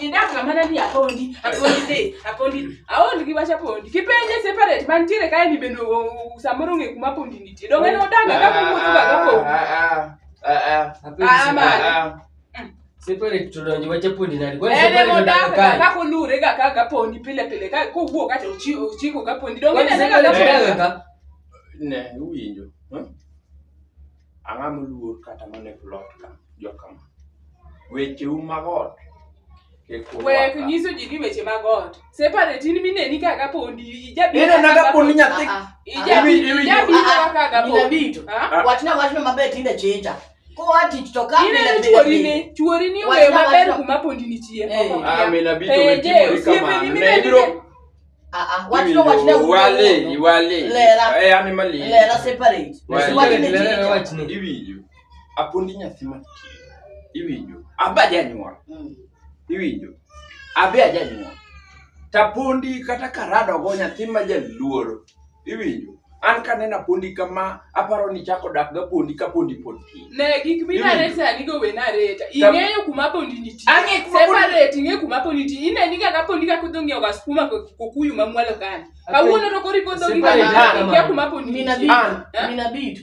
Idak ng'ama nani apondi, apondi de, apondi. Aond gi wacha pondi. Kipenje separate mantiere kae ni bende o- o- samoro ng'e kuma pondi nitie. Donge ne odaga ka kumotho ga ka pondi. Ah, man. separate tudonjo wacha pundi nani Kwani Ene separate modaga ga unataka ka kolure ga ka ka pondi pile pile ka kowuok kata ochi- ochiko ka pondi. Donge Kwani ne ne ga separate ka pondi. unataka ka Ne, uwinjo. Huh? Ang'a moluor kata mane plot ka jokama. Wecheu mag ot kik urwaka. Wek nyiso ji ni weche mag ot. Separate in mineni kaka pondi ijabi. Ina naga poni nyathi. Ah, ah. Ijabi Iwi- iwi- ijabi Ah, ah. kaka ga Mina pondi. bito. Ah? Wachna wachna maber tinde chinja. Koa tich to ka Ine ni chuori ni, chuori ni Wachna, owe maber wachna. kuma pondi nitie. Eh. Ah, mina bito Penje, wetimori osiepeni kamano. Ne mineni ibiro Ah, ah, iwinjo apundi nyathi matin iwinjo abe ajanyuol mm. iwinjo abe ajanyuol tapundi kata karadogo nyathi ma jaluoro iwinjo an kanena pondi kama aparo ni chako dak ga pondi ka pondi pod tin ne gik minare sani go we nareta ing'eyo kuma pondi nitie ang'e kuma separate ing'e kuma pondi nitie ine ni kaka pondi ka kudho ng'iewo ga skuma kokuyu mamwalo kani kawuono to kori kodho gi kama kia kuma pondi nitie minabitu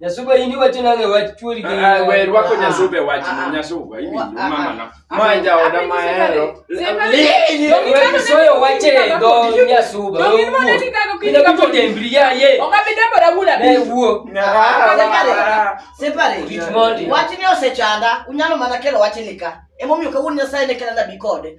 Nyasuba ini wacho nange wach chuori gi. Ah, we rwako nyasuba wach ah, ah. nyasuba ini ah, mama na. Ma ja oda ma hero. Lini we soyo wache do nyasuba. Do min mone ti kago kiti ka po dembri ya ye. Oka bi dembo da bula bi. Ne wuo. Separe. Wach ni osechanda. Unyalo mana kelo wach ni ka. Emomiyo kawuono Nyasaye ne kela nabi kode.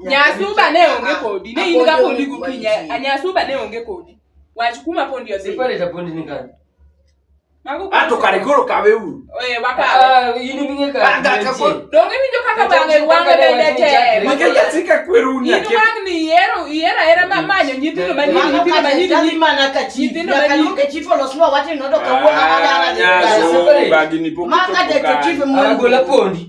nyasuba ne onge kodi ne in ga pondi gokinyi nyasuba ne onge kodi wach kuma pondi odhi ato kare koro kawe uru donge winjo kaka bange wange bende temakejasika kweru uniwangni ihero ihero ahera manyo nyithindo manyithindo manyithindo manyithindo manyithindo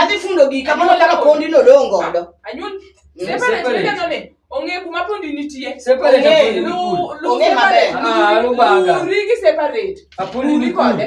adhi fundo gi kamano kaka pondi nodong' godo ong'e kuma pondi nitie ong'e maber ah, separate uri kode